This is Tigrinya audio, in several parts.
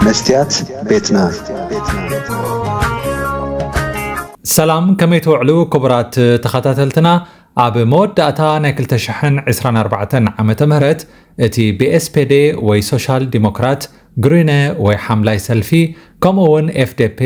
መስትያት ቤትና ሰላም ከመይ ትውዕሉ ክቡራት ተኸታተልትና ኣብ መወዳእታ ናይ 224 ዓ ም እቲ ብኤስፔዴ ወይ ሶሻል ዲሞክራት ግሪነ ወይ ሓምላይ ሰልፊ ከምኡ እውን ኤፍዴፔ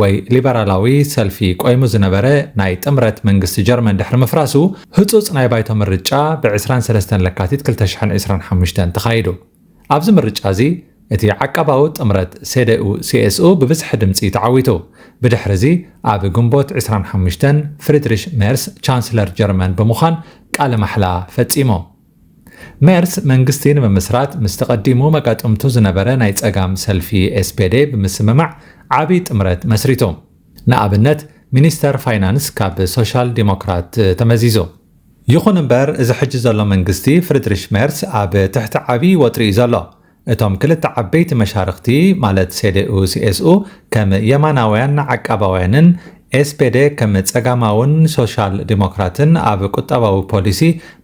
ወይ ሊበራላዊ ሰልፊ ቆይሙ ዝነበረ ናይ ጥምረት መንግስቲ ጀርመን ድሕሪ ምፍራሱ ህፁፅ ናይ ባይቶ ምርጫ ብ ዕስራን ሰለስተን ለካቲት ክልተ ሽሕን ዕስራን ሓሙሽተን ተኻይዱ። ኣብዚ ምርጫ እዚ እቲ ዓቃባዊ ጥምረት ሴደኡ ሲኤስኡ ብብዝሒ ድምፂ ተዓዊቱ። ብድሕሪ እዚ ኣብ ግንቦት ዕስራን ሓሙሽተን ፍሪድሪሽ ሜርስ ቻንስለር ጀርመን ብምዃን ቃለ ማሕላ ፈፂሙ። ሜርስ መንግስቲ ንምምስራት ምስቲ ቀዲሙ መጋጥምቱ ዝነበረ ናይ ጸጋም ሰልፊ ኤስፔዴ ብምስምማዕ ዓቢ ጥምረት መስሪቱ። ንኣብነት ሚኒስተር ፋይናንስ ካብ ሶሻል ዲሞክራት ተመዚዙ። ይኹን እምበር እዚ ሕጂ ዘሎ መንግስቲ ፍሪድሪሽ ሜርስ ኣብ ትሕቲ ዓቢ ወጥሪ'ዩ ዘሎ። እቶም ክልተ ዓበይቲ መሻርኽቲ ማለት ሴዴኡ ሲኤስኡ ከም የማናውያን ዓቃባውያንን ኤስፔዴ ከም ጸጋማውን ሶሻል ዲሞክራትን ኣብ ቁጠባዊ ፖሊሲ፣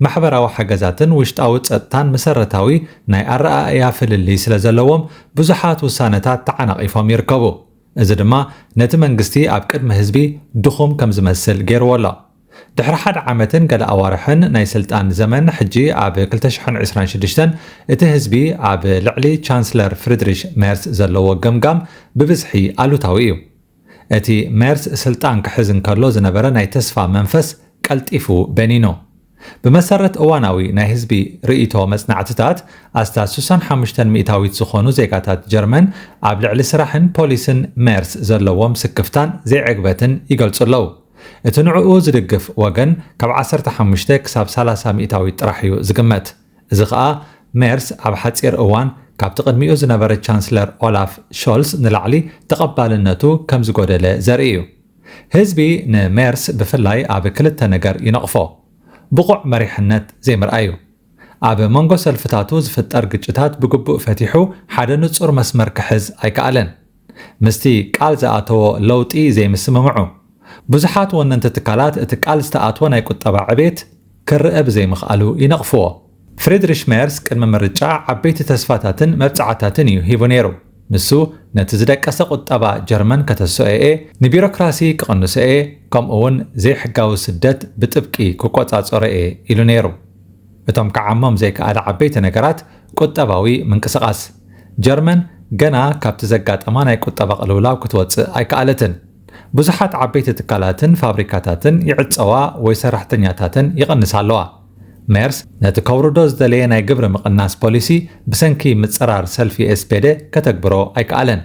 ማሕበራዊ ሓገዛትን ውሽጣዊ ጸጥታን መሰረታዊ ናይ ኣረኣእያ ፍልልይ ስለዘለዎም ብዙሓት ውሳነታት ተዓናቒፎም ይርከቡ። እዚ ድማ ነቲ መንግስቲ ኣብ ቅድሚ ህዝቢ ድኹም ከምዝመስል ገይርዎ ኣሎ። ድሕሪ ሓደ ዓመትን ገለ ኣዋርሕን ናይ ስልጣን ዘመን፣ ሕጂ ኣብ ክልተ ሽሕን ዕስራን ሽዱሽተን እቲ ህዝቢ ኣብ ልዕሊ ቻንስለር ፍሪድሪሽ ሜርስ ዘለዎ ገምጋም ብብዝሒ ኣሉታዊ እዩ። እቲ ሜርስ ስልጣን ክሕዝ እንከሎ ዝነበረ ናይ ተስፋ መንፈስ ቀልጢፉ በኒኑ። ብመሰረት እዋናዊ ናይ ህዝቢ ርእይቶ መጽናዕትታት፣ ኣስታት ሱሳን ሓሙሽተን ሚእታዊት ዝኾኑ ዜጋታት ጀርመን ኣብ ልዕሊ ስራሕን ፖሊስን ሜርስ ዘለዎም ስክፍታን ዘይዕግበትን ይገልጹ ኣለዉ። እቲ ንዕኡ ዝድግፍ ወገን ካብ ዓሰርተ ሓሙሽተ ክሳብ ሰላሳ ሚእታዊት ጥራሕ እዩ ዝግመት። እዚ ከኣ ሜርስ ኣብ ሓጺር እዋን ካብቲ ቅድሚኡ ዝነበረ ቻንስለር ኦላፍ ሾልስ ንላዕሊ ተቐባልነቱ ከም ዝጎደለ ዘርኢ እዩ። ህዝቢ ንሜርስ ብፍላይ ኣብ ክልተ ነገር ይነቕፎ። ብቑዕ መሪሕነት ዘይምርኣዩ። ኣብ መንጎ ሰልፍታቱ ዝፍጠር ግጭታት ብግቡእ ፈቲሑ ሓደ ንጹር መስመር ክሕዝ ኣይከኣለን። ምስቲ ቃል ዝኣተዎ ለውጢ ዘይምስምምዑ፣ ብዙሓት ወነንቲ ትካላት እቲ ቃል ዝተኣትወ ናይ ቁጠባ ዕቤት ክርኣ ብዘይምኽኣሉ ይነቕፍዎ። ፍሪድሪሽ ሜርስ ቅድሚ ምርጫ ዓበይቲ ተስፋታትን መብጽዓታትን እዩ ሂቡ ነይሩ። ንሱ ነቲ ዝደቀሰ ቁጠባ ጀርመን ከተስኦ'የ፣ ንቢሮክራሲ ክቕንሶ'የ፣ ከምኡ'ውን ዘይሕጋዊ ስደት ብጥብቂ ክቆጻጸሮ'የ ኢሉ ነይሩ። እቶም ክዓሞም ዘይከኣለ ዓበይቲ ነገራት፣ ቁጠባዊ ምንቅስቓስ ጀርመን ገና ካብቲ ዘጋጠማ ናይ ቁጠባ ቅልውላው ክትወጽእ ኣይከኣለትን። ብዙሓት ዓበይቲ ትካላትን ፋብሪካታትን ይዕጸዋ ወይ ሰራሕተኛታተን ይቕንሳ ኣለዋ። ሜርስ ነቲ ከውርዶ ዝደለየ ናይ ግብሪ ምቕናስ ፖሊሲ ብሰንኪ ምጽራር ሰልፊ ኤስፔደ ከተግብሮ ኣይከኣለን።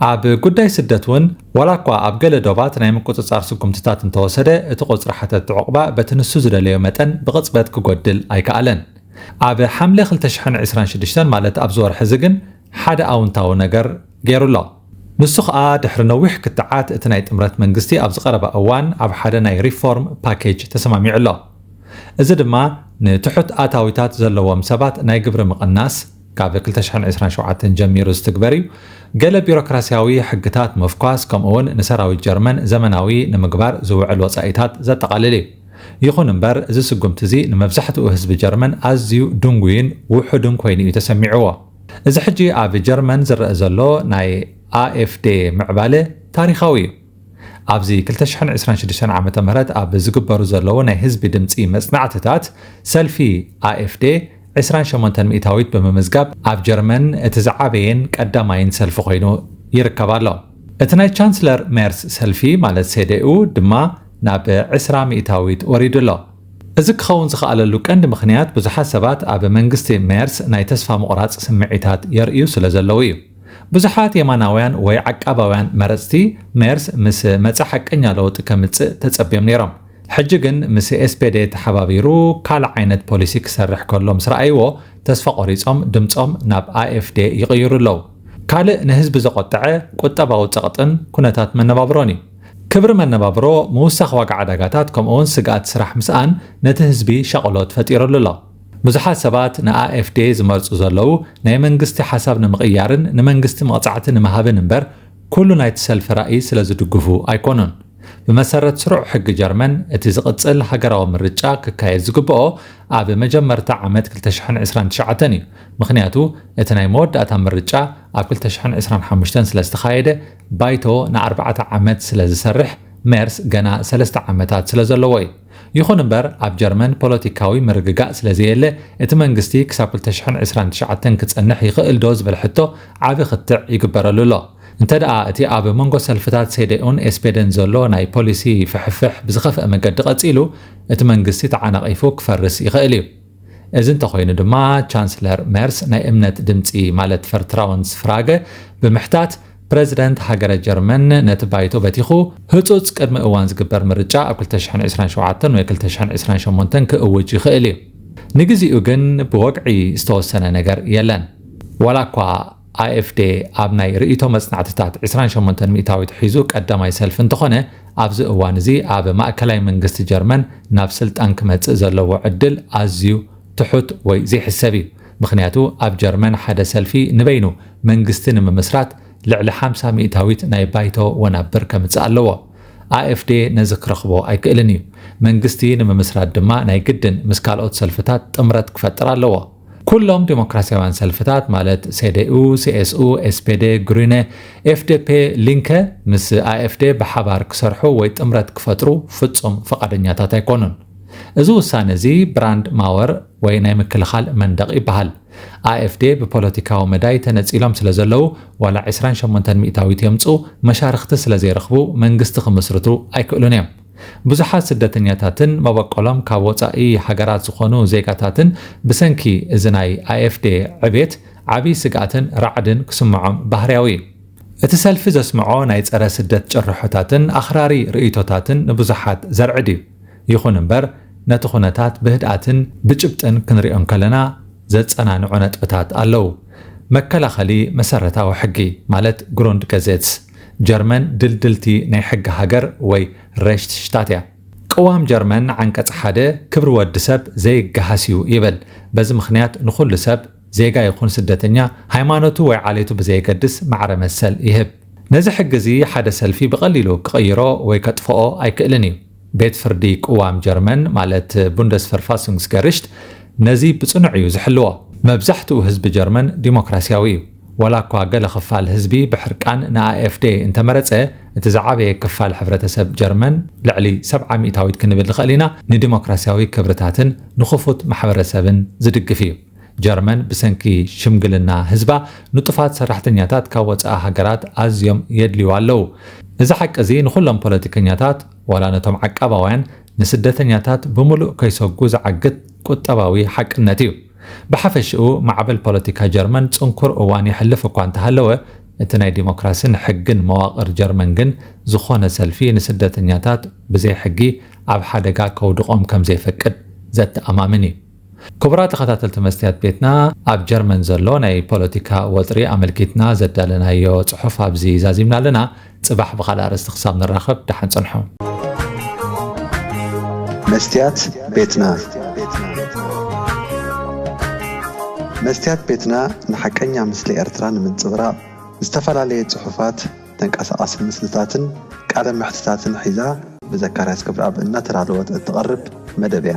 ኣብ ጉዳይ ስደት እውን ዋላኳ ኣብ ገለ ዶባት ናይ ምቁጽጻር ስጉምትታት እንተወሰደ እቲ ቁጽሪ ሓተቲ ዑቕባ በቲ ንሱ ዝደለዮ መጠን ብቕጽበት ክጎድል ኣይከኣለን። ኣብ ሓምለ ክልተ ሽሕን ዕስራን ሽዱሽተን ማለት ኣብዚ ወርሒ'ዚ ግን ሓደ ኣውንታዊ ነገር ገይሩ ኣሎ። ንሱ ከኣ ድሕሪ ነዊሕ ክትዓት እቲ ናይ ጥምረት መንግስቲ ኣብዚ ቀረባ እዋን ኣብ ሓደ ናይ ሪፎርም ፓኬጅ ተሰማሚዑ ኣሎ። እዚ ድማ ንትሑት ኣታዊታት ዘለዎም ሰባት ናይ ግብሪ ምቕናስ፣ ካብ ክልተ ሽሕን ዕስራን ሸውዓተን ጀሚሩ ዝትግበር እዩ። ገለ ቢሮክራስያዊ ሕግታት ምፍኳስ ከምኡ'ውን ንሰራዊት ጀርመን ዘመናዊ ንምግባር ዝውዕል ወጻኢታት ዘጠቓልል እዩ። ይኹን እምበር፣ እዚ ስጉምቲ እዚ ንመብዛሕትኡ ህዝቢ ጀርመን ኣዝዩ ድንጉይን ውሑድን ኮይኑ እዩ ተሰሚዕዎ። እዚ ሕጂ ኣብ ጀርመን ዝረኣ ዘሎ ናይ AfD ምዕባለ ታሪኻዊ እዩ። ኣብዚ ክልተ ሽሕን ዕስራን ሽዱሽተን ዓመተ ምህረት ኣብ ዝግበሩ ዘለዉ ናይ ህዝቢ ድምጺ መጽናዕትታት፣ ሰልፊ ኣኤፍዴ ዕስራን ሸሞንተን ሚእታዊት ብምምዝጋብ ኣብ ጀርመን እቲ ዝዓበየን ቀዳማይን ሰልፊ ኮይኑ ይርከብ ኣሎ። እቲ ናይ ቻንስለር ሜርስ ሰልፊ ማለት ሴደኡ ድማ ናብ ዕስራ ሚእታዊት ወሪዱ ኣሎ። እዚ ክኸውን ዝኸኣለሉ ቀንዲ ምኽንያት ብዙሓት ሰባት ኣብ መንግስቲ ሜርስ ናይ ተስፋ ምቑራጽ ስምዒታት የርእዩ ስለዘለዉ እዩ። ብዙሓት የማናውያን ወይ ዓቃባውያን መረጽቲ ሜርስ ምስ መጸ ሓቀኛ ለውጢ ከምጽእ ተጸብዮም ነይሮም። ሕጂ ግን ምስ ኤስፔዴ ተሓባቢሩ ካልእ ዓይነት ፖሊሲ ክሰርሕ ከሎ ምስ ረኣይዎ ተስፋ ቆሪጾም ድምጾም ናብ ኣኤፍዴ ይቕይሩ ኣለዉ። ካልእ ንህዝቢ ዘቖጠዐ ቁጠባዊ ጸቕጥን ኩነታት መነባብሮን እዩ። ክብሪ መነባብሮ፣ ምውሳኽ ዋጋ ዕዳጋታት ከምኡ'ውን ስግኣት ስራሕ ምስኣን ነቲ ህዝቢ ሻቕሎት ፈጢሩሉ ኣሎ። ብዙሓት ሰባት ንኣኤፍዴ ዝመርጹ ዘለዉ፣ ናይ መንግስቲ ሓሳብ ንምቕያርን ንመንግስቲ መቕጻዕቲ ንምሃብን እምበር፣ ኩሉ ናይቲ ሰልፊ ራኢ ስለ ዝድግፉ ኣይኮኑን። ብመሰረት ስሩዕ ሕጊ ጀርመን፣ እቲ ዝቕጽል ሃገራዊ ምርጫ ክካየድ ዝግበኦ ኣብ መጀመርታ ዓመት ክልተ ሽሕን ዕስራን ትሽዓተን እዩ። ምኽንያቱ እቲ ናይ መወዳእታ ምርጫ ኣብ ክልተ ሽሕን ዕስራን ሓሙሽተን ስለ ዝተኻየደ፣ ባይቶ ንኣርባዕተ ዓመት ስለ ዝሰርሕ፣ ሜርስ ገና ሰለስተ ዓመታት ስለ ዘለዎ እዩ። ይኹን እምበር ኣብ ጀርመን ፖለቲካዊ ምርግጋእ ስለ ዘየለ እቲ መንግስቲ ክሳብ ክልተ ሽሕን ዕስራን ትሽዓተን ክጸንሕ ይኽእልዶ ዝብል ሕቶ ዓቢ ክትዕ ይግበረሉ ኣሎ። እንተድኣ እቲ ኣብ መንጎ ሰልፍታት ሴደኡን ኤስፔደን ዘሎ ናይ ፖሊሲ ፍሕፍሕ ብዝኸፍኣ መገዲ ቀጺሉ እቲ መንግስቲ ተዓናቒፉ ክፈርስ ይኽእል እዩ። እዚ እንተኾይኑ ድማ ቻንስለር ሜርስ ናይ እምነት ድምጺ ማለት ፈርትራውንስ ፍራገ ብምሕታት ፕረዚደንት ሃገረ ጀርመን ነቲ ባይቶ በቲኹ ህጹጽ ቅድሚ እዋን ዝግበር ምርጫ ኣብ ክልተ ሽሕን ዕስራን ሸውዓተን ወይ ክልተ ሽሕን ዕስራን ሸሞንተን ክእውጅ ይኽእል እዩ። ንግዚኡ ግን ብወግዒ ዝተወሰነ ነገር የለን። ዋላኳ AfD ኣብ ናይ ርእይቶ መጽናዕትታት ዕስራን ሸሞንተን ሚእታዊት ሒዙ ቀዳማይ ሰልፊ እንተኾነ፣ ኣብዚ እዋን እዚ ኣብ ማእከላይ መንግስቲ ጀርመን ናብ ስልጣን ክመጽእ ዘለዎ ዕድል ኣዝዩ ትሑት ወይ ዘይሕሰብ እዩ። ምኽንያቱ ኣብ ጀርመን ሓደ ሰልፊ ንበይኑ መንግስቲ ንምምስራት ልዕሊ ሓምሳ ሚእታዊት ናይ ባይቶ ወናብር ከምጽእ ኣለዎ። AfD ነዚ ክረኽቦ ኣይክእልን እዩ። መንግስቲ ንምምስራት ድማ ናይ ግድን ምስ ካልኦት ሰልፍታት ጥምረት ክፈጥር ኣለዎ። ኩሎም ዴሞክራሲያውያን ሰልፍታት ማለት ሴዴኡ፣ ሲኤስኡ፣ ኤስፔዴ፣ ግሪነ፣ ኤፍዴፔ፣ ሊንከ ምስ ኣኤፍዴ ብሓባር ክሰርሑ ወይ ጥምረት ክፈጥሩ ፍጹም ፍቓደኛታት ኣይኮኑን። እዚ ውሳነ እዚ ብራንድ ማወር ወይ ናይ ምክልኻል መንደቕ ይበሃል። ኣኤፍዴ ብፖለቲካዊ መዳይ ተነጺሎም ስለ ዘለዉ ዋላ ዕስራን ሸሞንተን ሚእታዊት የምጽኡ መሻርኽቲ ስለ ዘይረኽቡ መንግስቲ ክምስርቱ ኣይክእሉን እዮም። ብዙሓት ስደተኛታትን መበቆሎም ካብ ወጻኢ ሃገራት ዝኾኑ ዜጋታትን ብሰንኪ እዚ ናይ AfD ዕብየት ዓቢ ስግኣትን ራዕድን ክስምዖም ባህርያዊ እዩ። እቲ ሰልፊ ዘስምዖ ናይ ጸረ ስደት ጭርሖታትን ኣኽራሪ ርእይቶታትን ንብዙሓት ዘርዕድ እዩ። ይኹን እምበር ነቲ ኩነታት ብህድኣትን ብጭብጥን ክንሪኦ እንከለና ዘጸናንዑ ነጥብታት ኣለዉ። መከላኸሊ መሰረታዊ ሕጊ ማለት Grundgesetz፣ ጀርመን ድልድልቲ ናይ ሕጊ ሃገር ወይ Rechtsstaat እያ። ቅዋም ጀርመን ዓንቀጽ ሓደ ክብሪ ወዲ ሰብ ዘይገሃስ እዩ ይብል። በዚ ምኽንያት ንኹሉ ሰብ፣ ዜጋ ይኹን ስደተኛ፣ ሃይማኖቱ ወይ ዓሌቱ ብዘየገድስ ማዕረ መሰል ይህብ። ነዚ ሕጊ እዚ ሓደ ሰልፊ ብቐሊሉ ክቕይሮ ወይ ከጥፍኦ ኣይክእልን እዩ። ቤት ፍርዲ ቅዋም ጀርመን ማለት Bundesverfassungsgericht ነዚ ብጽኑዕ እዩ ዝሕልዎ። መብዛሕትኡ ህዝቢ ጀርመን ዲሞክራስያዊ እዩ። ዋላ እኳ ገለ ክፋል ህዝቢ ብሕርቃን ንኣኤፍዴ እንተመረጸ፣ እቲ ዝዓበየ ክፋል ሕብረተሰብ ጀርመን፣ ልዕሊ ሰብዓ ሚእታዊት ክንብል ንኽእል ኢና፣ ንዲሞክራስያዊ ክብርታትን ንክፉት ማሕበረሰብን ዝድግፍ እዩ። ጀርመን ብሰንኪ ሽምግልና ህዝባ ንጡፋት ሰራሕተኛታት ካብ ወጻኢ ሃገራት ኣዝዮም የድልዩዋ ኣለዉ። እዚ ሓቂ እዚ ንኹሎም ፖለቲከኛታት ዋላ ነቶም ዓቃባውያን ንስደተኛታት ብምሉእ ከይሰጉ ዝዓግት ቁጠባዊ ሓቅነት እዩ። ብሓፈሽኡ ማዕበል ፖለቲካ ጀርመን ጽንኩር እዋን የሕልፍ እኳ እንተሃለወ እቲ ናይ ዲሞክራሲን ሕግን መዋቕር ጀርመን ግን ዝኾነ ሰልፊ ንስደተኛታት ብዘይ ሕጊ ኣብ ሓደጋ ከውድቖም ከምዘይፈቅድ ዘተኣማምን እዩ። ክቡራት ተኸታተልቲ መስትያት ቤትና ኣብ ጀርመን ዘሎ ናይ ፖለቲካ ወጥሪ ኣመልኪትና ዘዳለናዮ ጽሑፍ ኣብዚ ዛዚምና ኣለና። ጽባሕ ብኻልእ ኣርእስቲ ክሳብ ንራኸብ ደሓን ጽንሑ። መስትያት ቤትና መስትያት ቤትና ንሓቀኛ ምስሊ ኤርትራ ንምንጽብራቕ ዝተፈላለየ ጽሑፋት፣ ተንቀሳቓሲ ምስልታትን ቃለ መሕትታትን ሒዛ ብዘካርያስ ክብርኣብ እናተዳለወት እትቐርብ መደብ እያ።